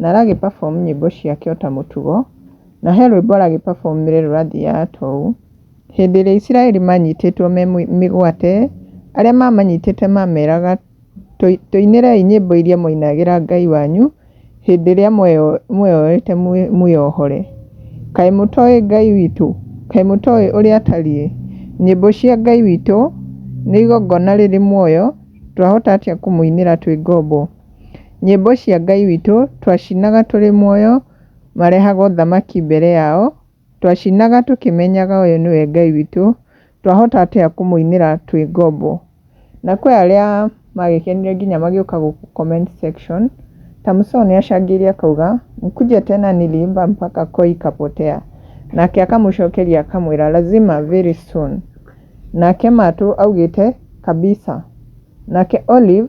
Na aragĩ perform nyĩmbo ciake ota mũtugo, na he rwĩmbo aragĩ perform rĩrĩa rũrathiaga toũ, Hĩndĩ ĩrĩa Isiraeli manyitĩtwo me mĩgwate, arĩa mamanyitĩte mameraga, Tũinĩrei nyĩmbo iria mwainagĩra Ngai wanyu, hĩndĩ ĩrĩa mweyoete mwĩohore. Kaĩ mũtoĩ Ngai witũ? Kaĩ mũtoĩ ũrĩa atariĩ? Nyĩmbo cia Ngai witũ nĩ igongona rĩrĩ muoyo, twahota atĩa kũmũinĩra twĩ ngombo? Nyĩmbo cia Ngai witũ twacinaga tũrĩ muoyo, marehaga ũthamaki mbere yao, twacinaga tũkĩmenyaga ũyũ nĩwe Ngai witũ, twahota atĩa kũmũinĩra twĩ ngombo. Na kwĩ arĩa magĩkenire nginya magĩũka gũkũ comment section, ta Musaũ nĩ acangĩire akauga, mkuje tena niliimba mpaka koo ikapotea. Nake akamũcokeria akamwĩra lazima very soon. Nake Matũ augĩte kabisa. Nake Olive